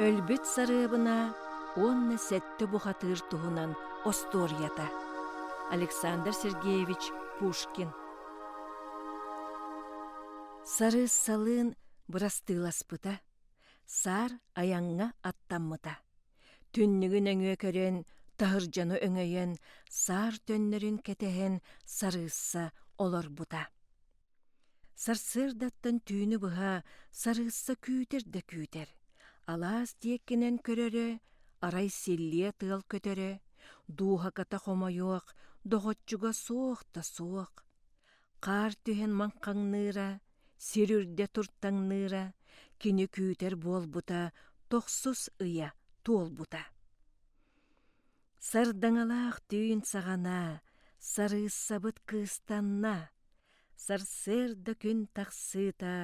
Өлбүт сарыабына уонна сэттэ бухатыыр туһунан остуоруйата Александр Сергеевич Пушкин Сарыыссалыын бырастыыласпыта, саар айаҥҥа аттаммыта. Түннүгү нөҥүө көрөн, таһырдьаны өҥөйөн, саар төннөрүн кэтэһэн сарыысса олорбута. Сарсыардаттан түүнү быһа сарыысса күүтэр да күүтэр. Алаас диэккинэн көрөрө, арай силлиэ тыал көтөрө, дууһаката хомойуох, доҕоччуга суох да суох. Хаар түһэн маҥхаҥныыра, сир үрдэ туртаҥныыра, кини күүтэр буолбута тохсус ыйа туолбута. Сардаҥалаах түүн саҕана Сарыыссабыт кыыстанна, Сарсыарда күн тахсыыта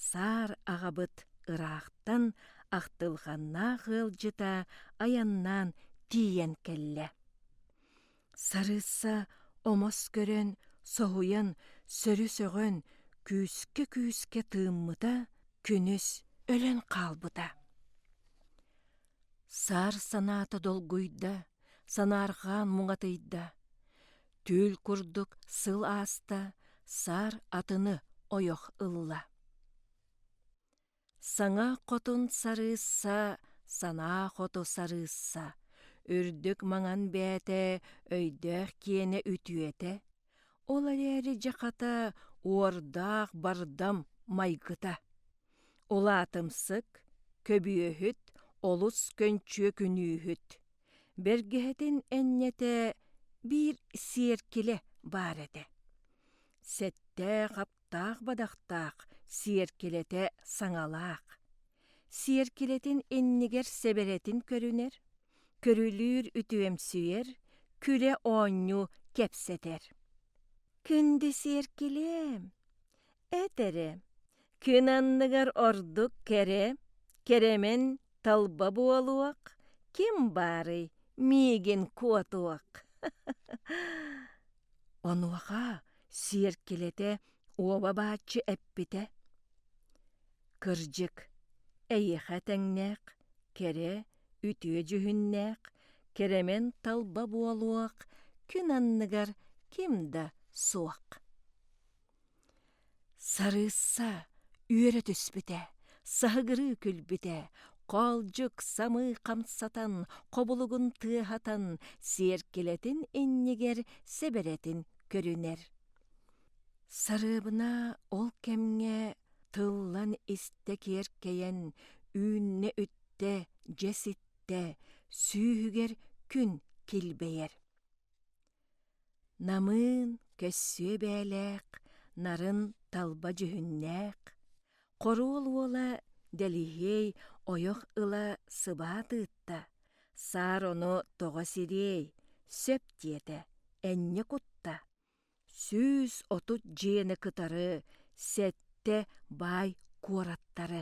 Саар аҕабыт ыраахтан Ахтылҕаннаах ыалдьыта айаннаан тиийэн кэллэ. Сарыысса омос көрөн, соһуйан, сөрү сөҕөн, күүскэ-күүскэ тыыммыта, күнүс өлөн хаалбыта. Саар санаата долгуйда, санаарҕаан муҥатыйда. Түүл курдук сыл ааста, саар атыны ойох ылла. Саҥа хотун сарыысса, санаа хоту сарыысса, үрдүк маҥан бээтэ, өйдөөх киэнэ үтүөтэ, Ол эрээри дьэ хата уордаах бардам майгыта. Улаатымсык, көбүөһүт, олус көнчүө күнүүһүт. Бэргэһэтин энньэтэ биир сиэркилэ баар этэ. Сэттээх-аптаах бадахтаах сиэркилэтэ саҥалаах. Сиэркилэтин иннигэр сэбэрэтин көрүнэр, көрүлүүр үтүөмсүйэр, күрэ-оонньуу кэпсэтэр. Күндү сиэркилээм, этэрэ, күн анныгар ордук кэрэ, кэрэмэн талба буолуох, ким баарый миигин куотуох. Онуоха сиэркилэтэ уоба-бааччы эппитэ: «Кырдьык, эйиэхэ тэҥнээх, кэрэ, үтүө дьүһүннээх, кэрэмэн талба буолуох, күн анныгар ким да суох». Сарыысса үөрэ түспүтэ, саһыгырыы күлбүтэ, хоолдьук самыы хамсатан, хобулугун тыаһатан, сиэркилэтин иннигэр сэбэрэтин көрүнэр. Сарыабына ол кэмҥэ тыллан истэ киэркэйэн, үүннэ үттэ, дьэ ситтэ, сүүһүгэр күн килбэйэр. намыын көссүө бээлээх нарын талба дьүһүннээх хоруол уола дэлиһиэй ойох ыла сыбаат ыытта саар ону тоҕо сириэй сөп диэтэ энньэ кутта сүүс отут дьиэни кытары сэттэ баай куораттары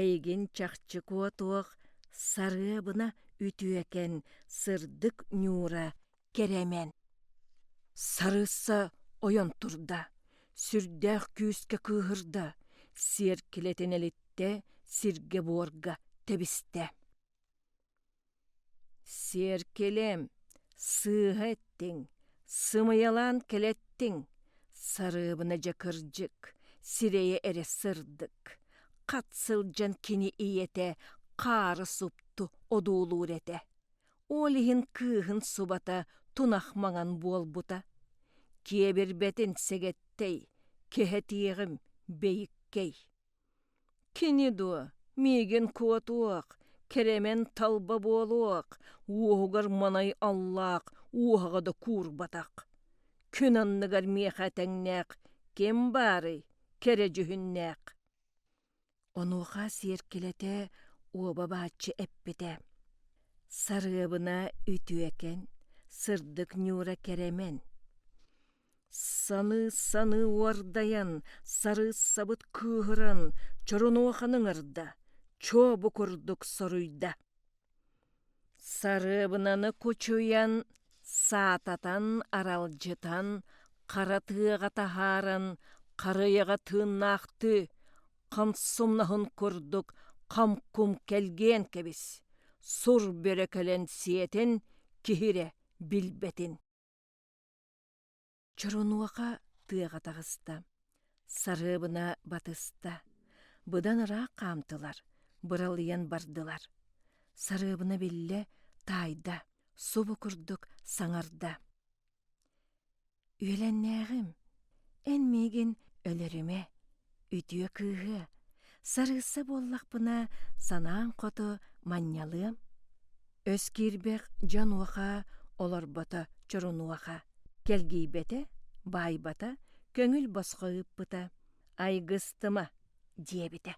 эйигин чахчы куотуох сарыабына үтүөкэн сырдык ньуура кэрэмэн сарыысса ойон турда сүрдээх күүскэ кыыһырда сиэркилэтин элиттэ сиргэ буорга тэбистэ Сиэркилим, сыыһа эттиҥ, сымыйалаан кэлэттиҥ, сарыыбына дьэ кырдьык, сирэйэ эрэ сырдык, хат сылдьан кини ийэтэ хаары супту одуулуур этэ. Ол иһин кыыһын субата тунах маҥан буолбута. Киэбирбэтин сэгэттэй, кэһэтиэҕим бэйиккэй Кини дуо, миигин куотуох, кэрэмэн талба буолуох, уоһугар манай аллаах, уоһаҕа да куурбатах. Күн анныгар миэхэ тэҥнээх, ким баарый, кэрэ дьүһүннээх. Онуоха сиэркилэтэ уоба бааччы эппитэ: «Сарыабына үтүөкэн, сырдык Ньуура кэрэмэн». Саныы-саныы уордайан, сарыыссабыт кыыһыран, Чорунуоханы ыҥырда, чуо бу курдук соруйда. Сарыабынаны кучуйан, саататан, аралдьытан, хара тыаҕа таһааран, харыйаҕа тыыннаахтыы, хамсумнаһын курдук хамкум кэлгиэн кэбис, сур бөрө кэлэн сиэтин, киһирэ билбэтин. Чорунуоха тыаҕа таҕыста, сарыабына батыста, быдан ыраах хаамтылар, быралыйан бардылар. Сарыабына биллэ, таайда, субу курдук саҥарда. «Үөлэннээҕим, эн миигин өлөрүмэ, Үтүө кыыһыа, сарыысса буоллахпына, санааҥ хоту манньалыам. Өс киирбэх дьон уоха, олорбото чорунуоха, кэлгийбэтэ, баайбата, көҥүл босхо ыыппыта, айгыстыма, диэбитэ.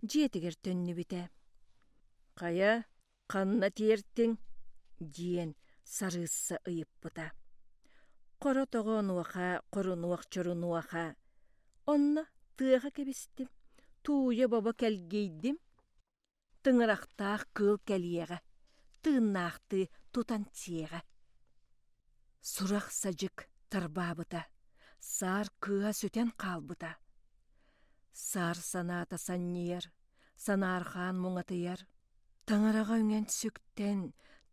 Дьиэтигэр төннүбүтэ. Хайа, ханна тиэртиҥ диэн сарыысса ыйыппыта хоро тоҕо онуоха хорунуох чорунуоха онно тыаҕа кэбистим тууйа бобо кэлгийдим тыҥырахтаах кыыл кэлиэҕэ тыыннаахтыы тутан сиэҕэ сурах садьык тарбаабыта саар кыыһа сүтэн хаалбыта саар санаата санньыйар Санаархаан муҥатыйар, таҥараҕа үҥэн сүктэн,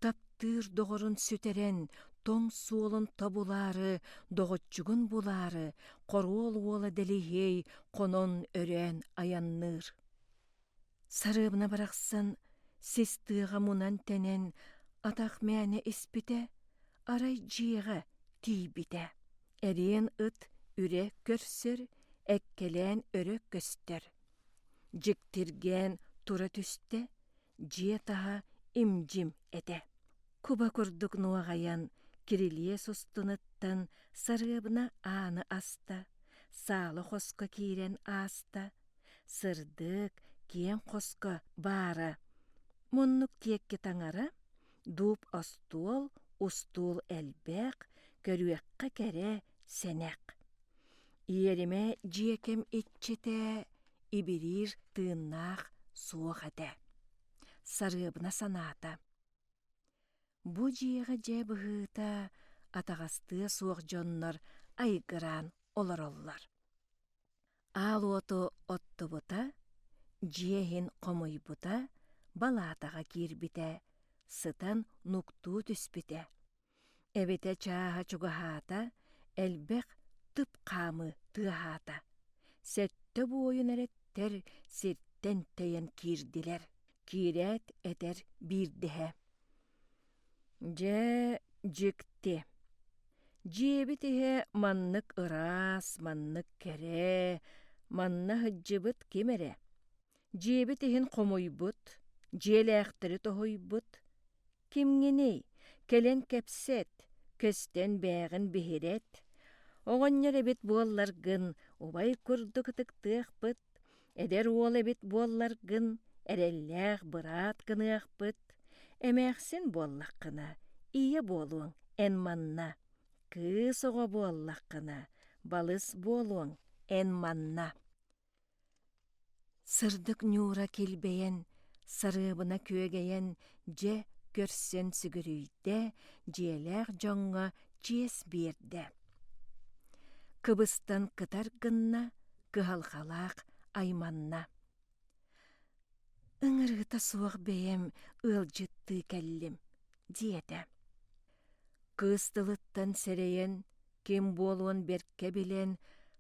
таптыыр доҕорун сүтэрэн, тоҥ суолун тобулаары, доҕоччугун булаары, хоруол уола Дэлиһиэй хонон өрөөн айанныыр. Сарыабына барахсан сис тыаҕа мунан-тэнэн атах мээнэ испитэ, арай дьиэҕэ тиийбитэ. Эриэн ыт үрэ көрсөр, эккэлээн өрө көстөр. дьиктиргээн тура түстэ дьиэ таһа им-дьим этэ куба курдук нуоҕайан кирилиэс устунуттан сарыабына ааны аста саала хоско киирэн ааста сырдык киэҥ хоско баара муннук тиэкки таҥара дууп остуол устуул элбэх көрүөххэ кэрэ сэнэх. Иэримэ дьиэкэм иччитэ ибириир тыыннаах суох этэ. Сарыабына санаата. Бу дьиэҕэ дьэ быһыыта атаҕастыа суох дьоннор айгыраан олороллор. Аал уоту оттубута, дьиэ иһин хомуйбута, балаатаҕа киирбитэ, сытан нуктуу түспүтэ. эбэтэ чааһа чугаһаата, элбэх тып хаамы тыаһаата. Сэттэ буойун эрэттэр сиртэн тэйэн киирдилэр. Киирээт этэр биирдэһэ: «Дьэ, дьикти, дьиэбит иһэ маннык ыраас, маннык кэрэ, манна сылдьыбыт ким эрэ? дьиэбит иһин хомуйбут, дьиэлээхтэри тоһуйбут. Кимҥиний? Кэлэн кэпсэт, көстөн бээҕин биһирэт. Оҕонньор эбит буолларгын, убай курдук ытыктыахпыт. Эдэр уол эбит буолларгын, эрэллээх быраат гыныахпыт. Эмээхсин буоллаххына, ийэ буолуоҥ эн манна. Кыыс оҕо буоллаххына, балыс буолуоҥ эн манна. Сырдык ньуура килбэйэн, сарыабына күөгэйэн, дьэ көрсөн сүгүрүйдэ, дьиэлээх дьоҥҥо чиэс биэрдэ. Кыбыстан кытар гынна, кыһалҕалаах айманна. «Ыҥырыыта суох бэйэм ыалдьыттыы кэллим», диэтэ. Кыыс тылыттан сэрэйэн, ким буолуон бэркэ билэн,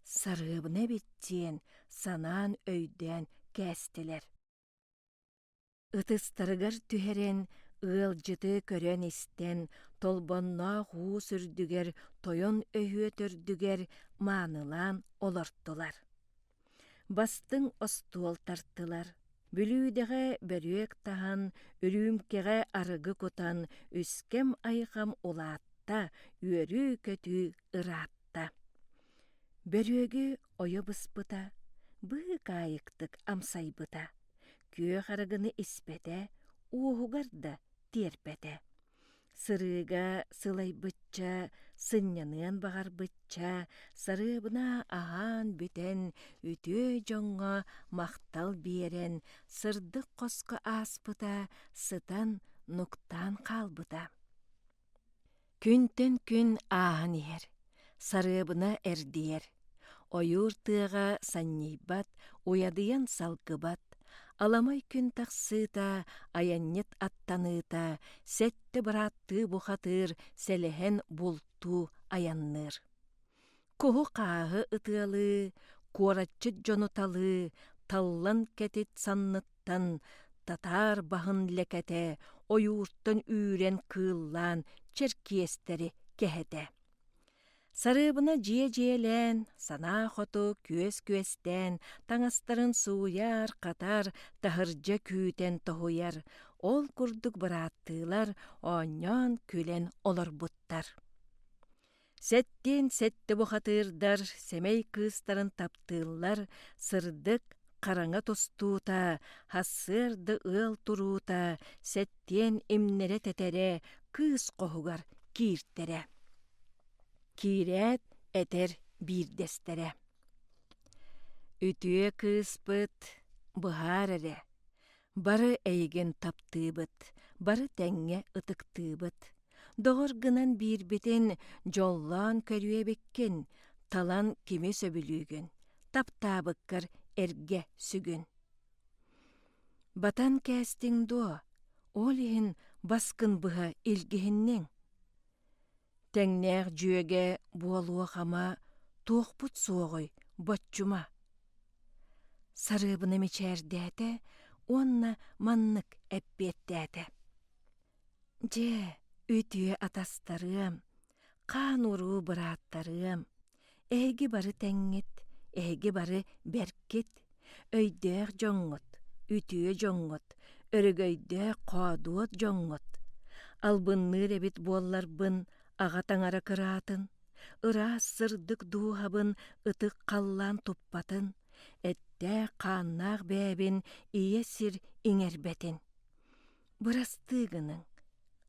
сарыыбына эбит диэн санаан өйдөөн кээстилэр. Ытыстарыгар түһэрэн, ыалдьыты көрөн-истэн, толбонноох уус үрдүгэр, тойон өһүө төрдүгэр маанылаан олортулар. Бастыҥ остуол тартылар. Бүлүүдэҕэ бөрүөк таһан, үрүүмкэҕэ арыгы кутан, үскэм-айҕам улаатта, үөрүү-көтүү ыраатта. Бөрүөгү ойо быспыта, быыкаайыктык амсайбыта, күөх арыгыны испэтэ, уоһугар да тиэрпэтэ. Сырыыга сылайбычча, сынньаныан баҕарбычча, сарыабына аһаан бүтэн, үтүө дьоҥҥо махтал биэрэн, сырдык хоско ааспыта, сытан, нуктаан хаалбыта. Күнтэн күн ааһан иһэр. Сарыабына эрдийэр, ойуур тыаҕа санньыйбат, уйадыйан салгыбат, аламай күн тахсыыта, айанньыт аттаныыта, сэттэ бырааттыы бухатыыр, сэлэһэн бултуу айанныыр. Куһу хааһы ытыалыы, куораччыт дьону талыы, таллан кэтит санныттан, татаар баһын лэкэтэ, ойууртан үүрэн кыыллаан, черкиэстэри кэһэтэ. Сарыыбына дьиэ-дьиэлээн, санаа хоту күөс-күөстээн, таҥастарын сууйар, хатар, таһырдьа күүтэн тоһуйар, ол курдук бырааттыылар оонньоон, күлэн олорбуттар. Сэттиин сэттэ бухатыырдар сэмэй кыыстарын таптыыллар, сырдык, хараҥа тустуута, сарсыарда ыал туруута, сэттиэн имнэрэ-тэтэрэ кыыс хоһугар кииртэрэ. Киирээт этэр биирдэстэрэ: «Үтүө кыыспыт, быһаар эрэ, Бары эйигин таптыыбыт, бары тэҥҥэ ытыктыыбыт. Доҕор гынан биирбитин дьоллоон көрүөбүккүн, талан кими сөбүлүүгүн, таптаабыккар эргэ сүгүн. Батан кээстиҥ дуо, ол иһин баскын быһа илгиһинниҥ. тэҥнээх дьүөгэ буолуох-ама туохпут суоҕуй боччума сарыыбына мичээрдээтэ уонна маннык эппиэттээтэ дьэ үтүө атастарыам хаан уруу бырааттарыам Эһиги бары тэҥҥит, эһиги бары бэркит, өйдөөх дьоҥҥут, үтүө дьоҥҥут, өрөгөйдөөх, хоодуот дьоҥҥут. Албынныыр эбит буолларбын аҕа таҥара кыраатын, ыраас сырдык дууһабын ытык халлаан туппатын, эттээх-хааннаах бэйэбин ийэ сир иҥэрбэтин. Бырастыы гыныҥ,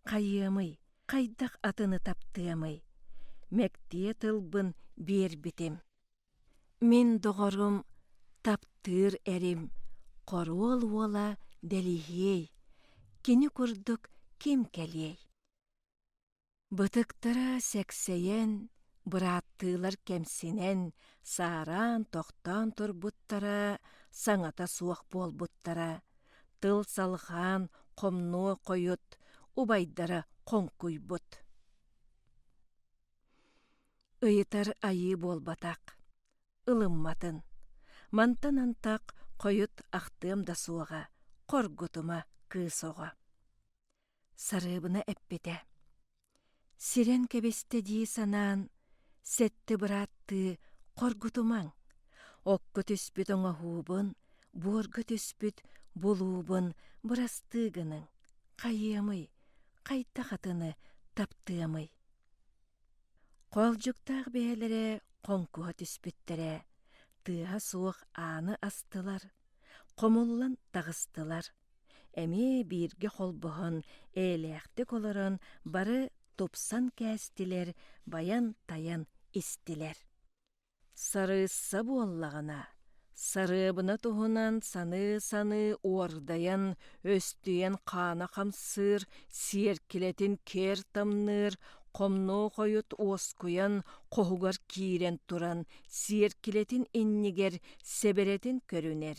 хайыамый, хайдах атыны таптыамый? Мэктиэ тылбын биэрбитим. Мин доҕорум таптыыр эрим, хоруол уола дэлиһиэй, кини курдук ким кэлиэй? Бытыктара сэксэйэн, бырааттыылар кэмсинэн, саараан тохтоон турбуттара, саҥата суох буолбуттара, тыл салҕаан хомнуо хойут, убайдара хоҥкуйбут. Ыйытар айыы буолбатах, ылымматын. Мантан антах хойут ахтыам да суоҕа, хоргутума кыыс оҕо. Сарыыбына эппитэ: «Сирэн кэбистэ дии санаан, сэттэ бырааттыы хоргутумаҥ, окко түспүт оҥоһуубун, буорга түспүт булуубун бырастыы гыныҥ, хайыамый, хайдах атыны таптыамый?» Хоолдьуктаах бэйэлэрэ хоҥкуһа түспүттэрэ, тыаһа суох ааны астылар, хомуллан таҕыстылар. эмиэ бииргэ холбоһон эйэлээхтик олорон бары тупсан кээстилэр, байан-тайан истилэр. Сарыысса буоллаҕына, сарыабына туһунан саныы-саныы уордайан, өстүйэн хаана хамсыыр, сиэркилэтин киэр тамныыр, хомнуо хойут уоскуйан, хоһугар киирэн туран, сиэркилэтин иннигэр сэбэрэтин көрүнэр,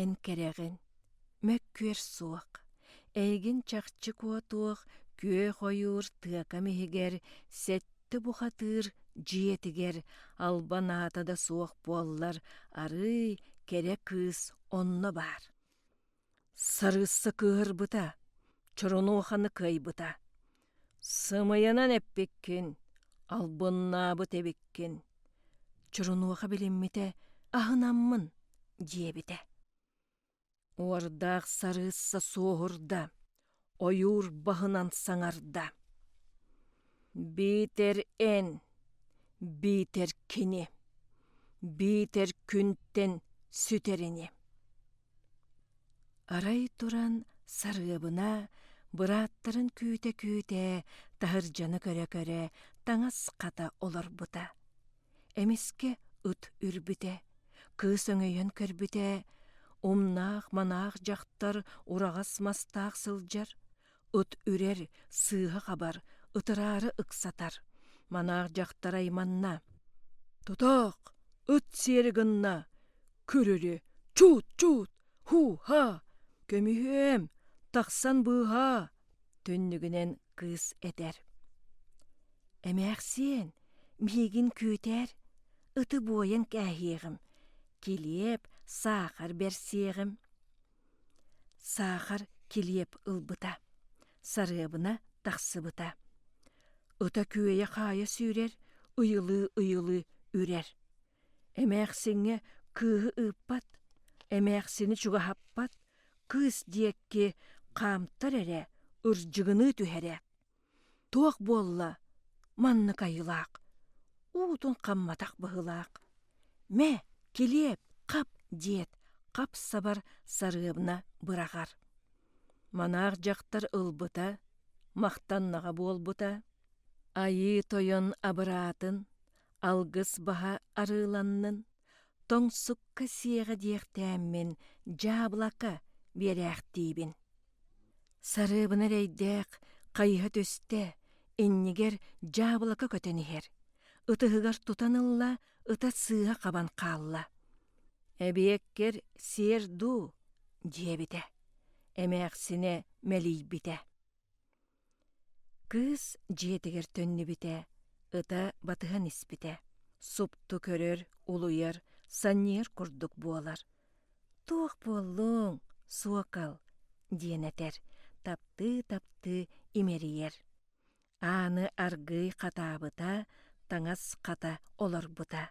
эн кэрэҕин мөккүөр суох эйигин чахчы куотуох күөх ойуур тыакам иһигэр сэттэ бухатыыр дьиэтигэр албан аата да суох буоллар арыый кэрэ кыыс онно баар сарыысса кыыһырбыта чоронуоханы кыайбыта Сымыйанан эппиккин, албыннаабыт эбиккин, Чорунуоха билиммитэ аһынаммын, диэбитэ. Уордаах сарыысса суоһурда, ойуур баһынан саҥарда. Биитэр эн, биитэр кини, биитэр күнтэн сүтэр ини. Арай туран Сарыабына бырааттарын күүтэ-күүтэ таһырдьаны көрө-көрө таҥас хата олорбута. Эмискэ ыт үрбүтэ, кыыс өҥөйөн көрбүтэ, умнаах-манаах дьахтар ураҕас мастаах сылдьар, Ыт үрэр, сыыһа хабар, ытыраары ыксатар. Манаах дьахтар айманна. «Тутаах! Ыт сиэри гынна! Күрүрү! Чуут, чуут! Һуу-һаа! Көмүһүөм! Тахсан быыһаа!» Түннүгүнэн кыыс этэр. «Эмээхсиэн, миигин күөтээр, ыты буойан кээһиэҕим, килиэп, саахар берсиэҕим». Саахар килиэп ылбыта, сарыабына тахсыбыта. Ыта күөйэ-хаайа сүүрэр, ыйылыы-ыйылыы үрэр. Эмээхсиҥҥэ кыыһы ыыппат, эмээхсини чугаһаппат, кыыс диэкки хаамтар эрэ, ырдьыгыныы түһэрэ. Туох буолла маннык айылаах, уутун хамматах быһылаах? Мэ, килиэп, хап, диэт, хап-сабар сарыабына быраҕар. Манаах дьахтар ылбыта, махтаннаҕа буолбута. Айыы тойон абыраатын, алгыс баһа арыыланнын. тоҥсукка сиэҕэ диэхтээммин дьаабылака биэрээхтиибин сарыыбына эрэйдээх хайыһа түстэ иннигэр дьаабылака көтөн иһэр ытыһыгар тутан ылла ыта сыыһа хабан хаалла эбиэккэр сиэр дуу диэбитэ эмээхсинэ мэлийбитэ Кыыс дьиэтигэр төннүбүтэ, ыта батыһан испитэ, супту көрөр, улуйар, санньыйар курдук буолар. «Туох буоллуҥ, суокал?» диэн этэр, таптыы-таптыы имэрийэр. Ааны аргыый хатаабыта, таҥас хата олорбута.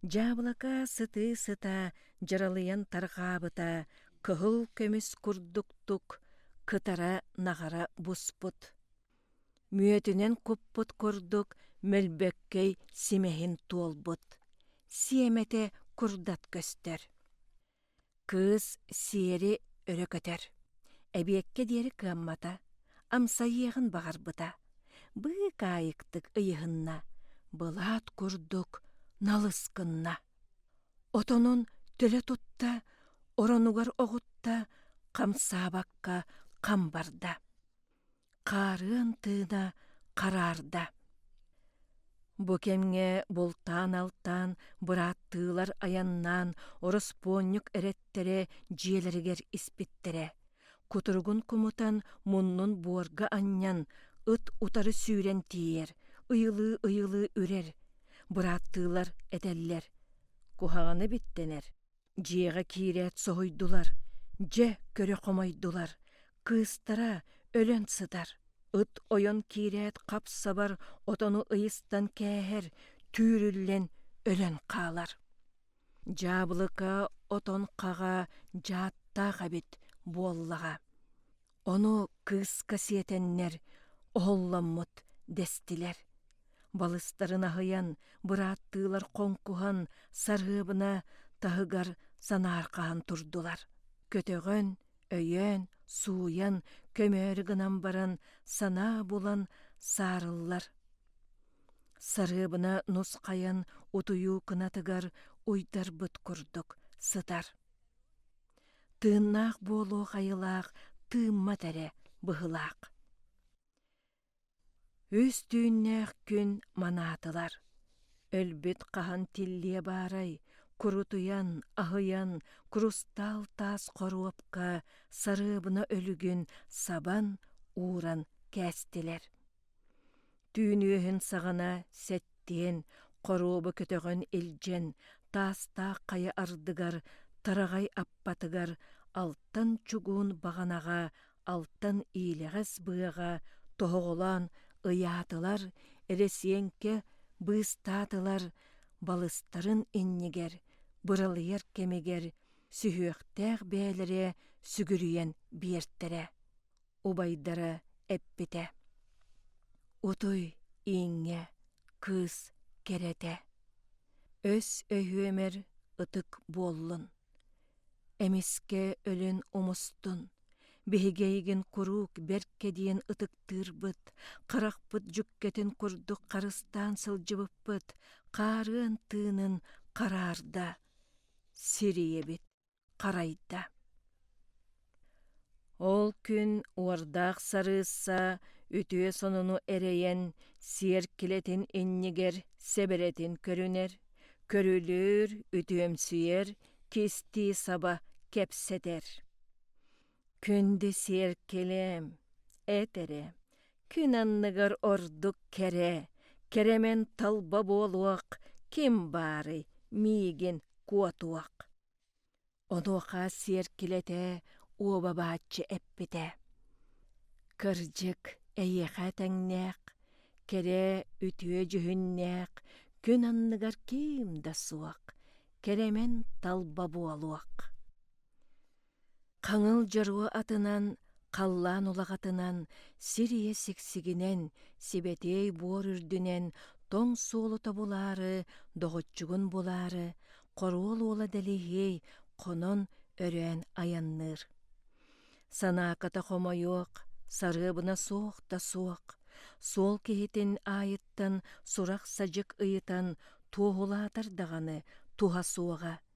Дьаабылака сытыы-сыта дьыралыйан тарҕаабыта, кыһыл көмүс курдуктук кытара наҕара буспут, мүөтүнэн куппут курдук мөлбөккөй симэһин туолбут, сиэмэтэ курдат көстөр. Кыыс сиэри өрө көтөр, эбиэккэ диэри кыаммата, амсайыаҕын баҕарбыта, быыкаайыктык ыйыһынна, былаат курдук налыс гынна. Отонун төлө тутта, оронугар оҕутта, хамсаабакка хам барда. Хаарыан тыына хараарда. Бу кэмҥэ бултаан-алтаан, бырааттыылар айаннаан, ороспуонньук эрэттэрэ дьиэлэригэр испиттэрэ. кутуругун кумутан муннун буорга анньан ыт утары сүүрэн тиийэр ыйылыы ыйылыы үрэр бырааттыылар этэллэр куһаҕаны биттэнэр дьиэҕэ киирээт соһуйдулар дьэ көрө хомойдулар кыыстара өлөн сытар ыт ойон киирээт хап-сабар отону ыйыстан кээһэр түүрүллэн өлөн хаалар дьаабылыка отон хаҕа дьааттаах эбит буоллаҕа ону кыыска сиэтэннэр оһолломмут дэстилэр балыстарын аһыйан бырааттыылар хоҥкуһан сарыабына таһыгар санаархаһан турдулар көтөҕөн өйөөн сууйан көмөөрү гынан баран санаа булан саарыллар Сарыабына нусхайан утуйуу кынатыгар уйдарбыт курдук сытар. Тыыннаах буолуо хайылаах тыыммат эрэ быһылаах. Үс түүннээх күн манаатылар. Өлбүт хаһан тиллиэ баарай, курутуйан, аһыйан, курустаал таас хоруопка сарыабына өлүгүн сабан, ууран кээстилэр. түүн үөһүн саҕана сэттиэн хоруоба көтөҕөн илдьэн таастаах хайа ардыгар тараҕай аппатыгар алтан чугуун баҕанаҕа алтан иилэҕэс быаҕа тоһоҕолоон ыйаатылар эрэсиэҥкэ быыстаатылар балыстарын иннигэр быралыйар кэмигэр сүһүөхтээх бээлэрэ сүгүрүйэн биэртэрэ убайдара эппитэ «Утуй, ииҥҥэ, кыыс кэрэтэ, өс өһүөмэр ытык буоллун, эмискэ өлөн умустун, биһиги эйигин куруук бэркэ диэн ытыктыырбыт, харахпыт дьүккэтин курдук харыстаан сылдьыбыппыт, хаарыан тыынын хараарда, сирийэбит». харайда. Ол күн уордаах сарыысса үтүө сонуну эрэйэн сиэркилэтин иннигэр сэбэрэтин көрүнэр, көрүлүүр, үтүөмсүйэр, кистии саба кэпсэтэр. Күндү сиэркилэм, эт эрэ, күн анныгар ордук кэрэ, кэрэмэн талба буолуох, ким баарый миигин куотуох. Онуоха сиэркилэтэ уобабааччы эппитэ: «Кырдьык, эйиэхэ этэҥнээх, кэрэ, үтүө дьүһүннээх күн анныгар ким да суох, кэрэмэн талба буолуох». хаҥыл дьоруо атынан халлаан улаҕатынан сир ийэ сиксигинэн сибэтиэй буор үрдүнэн тоҥ суолу тобулаары доҕоччугун булаары хоруол уола дэлиһиэй хонон өрөөн айанныыр санааката хомойуох сарыабына суох да суох суол киһитин аайыттан сурах садьык ыйытан туоһулаатар даҕаны туһа суоҕа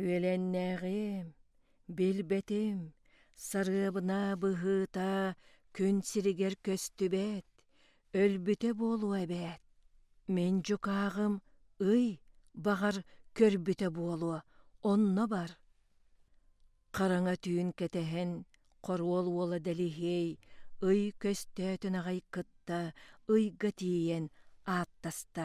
Үөлэннээҕим, билбэтим, сарыабынаа быһыыта күн сиригэр көстүбэт, өлбүтэ буолуо эбээт, мин дьукааҕым ый баҕар көрбүтэ буолуо, онно бар. Хараҥа түүн кэтэһэн хоруол уола Дэлиһиэй ый көстөөтүн аҕай кытта ыйга тиийэн ааттаста: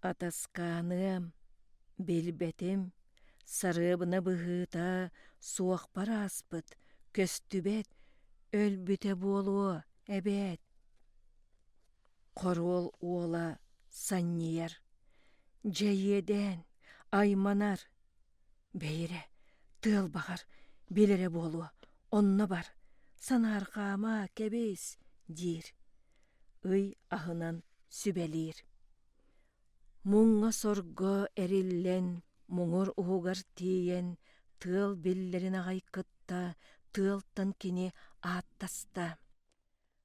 Атаскааныам, билбэтим, сарыабына быһыыта суохпар ааспыт, көстүбэт, өлбүтэ буолуо эбээт. Хоруол уола санньыйар, дьэиэдээн, айманар, Бэйирэ, тыал баҕар, бил эрэ буолуо, онно бар, санаарҕаама, кэбис, диир. Ый аһынан сүбэлиир. Муҥҥа-сорго эриллэн, муҥур уһугар тиийэн, тыал биллэрин аҕай кытта, тыалтан кини ааттаста.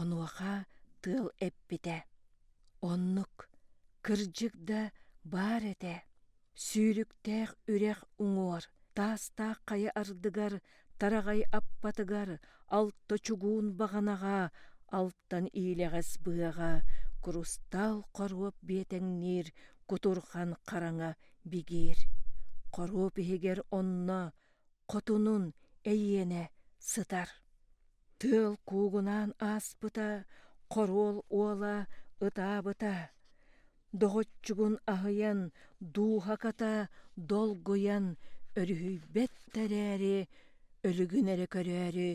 Онуоха тыал эппитэ: «Оннук, кырдьык да баар этэ, сүүрүктээх үрэх уҥуор, таастаах хайа ардыгар, тараҕай аппатыгар, алта чугуун баҕанаҕа, алтан иилэҕэс быһаҕа, курустаал хоруоп биэтэҥниир кутурҕан хараҥа бигиир. Хоруоп иһигэр онно, хотунун, эйиэнэ сытар». тыал куугунаан ааспыта, хоруол уола ытаабыта, доҕоччугун аһыйан, дууһаката долгуйан өрүһүйбэт эрээри, өлүгүн эрэ көрөөрү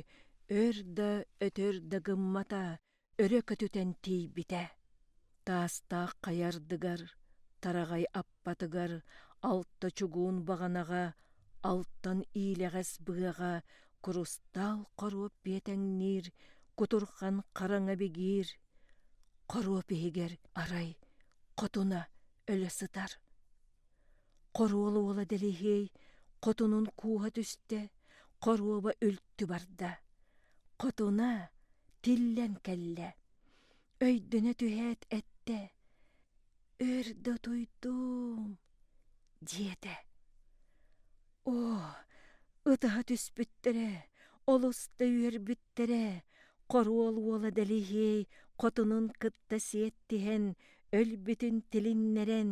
өр да өтөр да гыммата, өрө көтүтэн тиийбитэ таастаах хайардыгар тараҕай аппатыгар алта чугуун баҕанаҕа алтан иилэҕэс быһаҕа курустаал хоруоп биэтэҥниир кутурҕан хараҥа бигиир хоруоп иһигэр арай хотуна өлө сытар Хоруол уола Дэлэһиэй хотунун кууһа түстэ, хоруоба үлтү барда. Хотуна тиллэн кэллэ, өйдөнө түһээт эттэ, «Өр да туйдум» диэтэ. Оо, ытаһа түспүттэрэ, олус да үөрбүттэрэ, хоруол уола Дэлиһиэй хотунун кытта сиэттиһэн, өлбүтүн тилиннэрэн,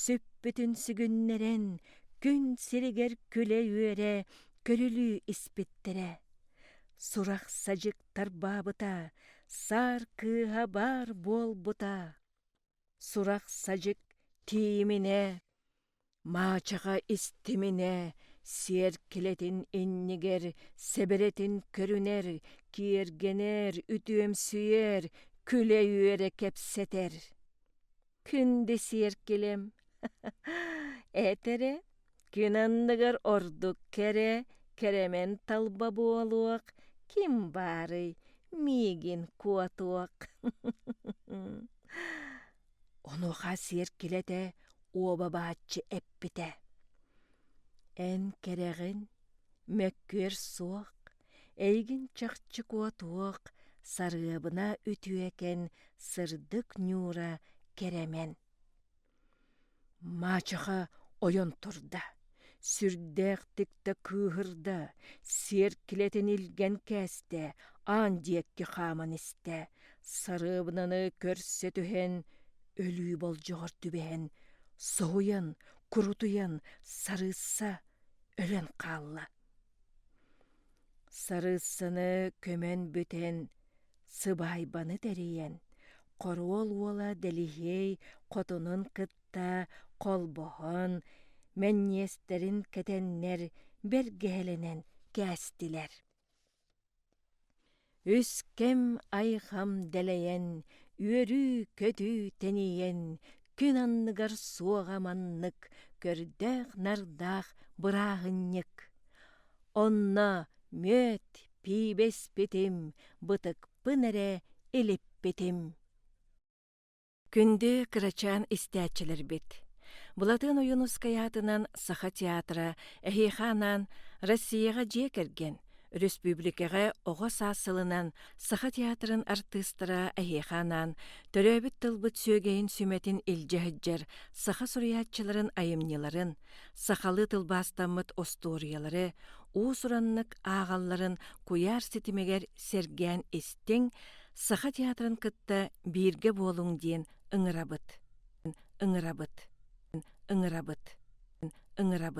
сүппүтүн сүгүннэрэн, күн сиригэр күлэ-үөрэ, күлүлүү испиттэрэ. Сурах-садьык тарбаабыта, саар кыыһа баар буолбута. Сурах-садьык тиийиминэ: Маачаха истиминэ, сиэркилэтин иннигэр сэбэрэтин көрүнэр, киэргэнэр, үтүөмсүйэр, күлэ үөрэ кэпсэтэр. Күндү сиэркилэм, этэрэ күн анныгар ордук кэрэ, кэрэмэн талба буолуох, ким баарый, миигин куотуох. Онуоха сиэр килэ этэ, уобабааччы эппитэ: «Эн кэрэҕин, мөккүөр суох, эйигин чахчы куотуох, сарыабына үтүөкэн, сырдык Ньуура кэрэмэн». Маачаха ойон турда, сүрдээх тикта кыыһырда, сиэркилэтин илгэн кээстэ, аан диэки хааман истэ, сарыабынаны көрсө түһэн, өлүү болдьоҕор түбэһэн, соһуйан, курутуйан сарыысса өлөн хаалла. Сарыссыны көмөн бүтэн, сыбаайбаны тэрийэн, хоруол уола Дэлиһиэй хотунун кытта холбоһон, мэнниэстэрин кэтэннэр, бэргэһэлэнэн кээстилэр. Үс кэм-айхам дэлэйэн, үөрүү-көтүү тэнийэн, күн анныгар суоҕа маннык көрдөөх-нардаах бырааһынньык. Онно мүөт пиибэспитим, бытыкпын эрэ илиппитим Күндү кырачаан истээччилэрбит! Былатыан Ойуунускай аатынан Саха театра эһиэхэ анаан Россияҕа дьиэ кэргэн, өрөспүүбүлүкэҕэ оҕо саас сылынан саха театрын артыыстара эһиэхэ анаан төрөөбүт тылбыт сүөгэйин сүмэтин илдьэ сылдьар саха суруйааччыларын айымньыларын, сахалыы тылбаастаммыт остуоруйалары, уус-ураннык ааҕалларын куйаар ситимигэр сэргээн истиҥ, Саха театрын кытта бииргэ буолуҥ диэн ыҥырабыт, ыҥырабыт, ыҥырабыт, ыҥырабыт.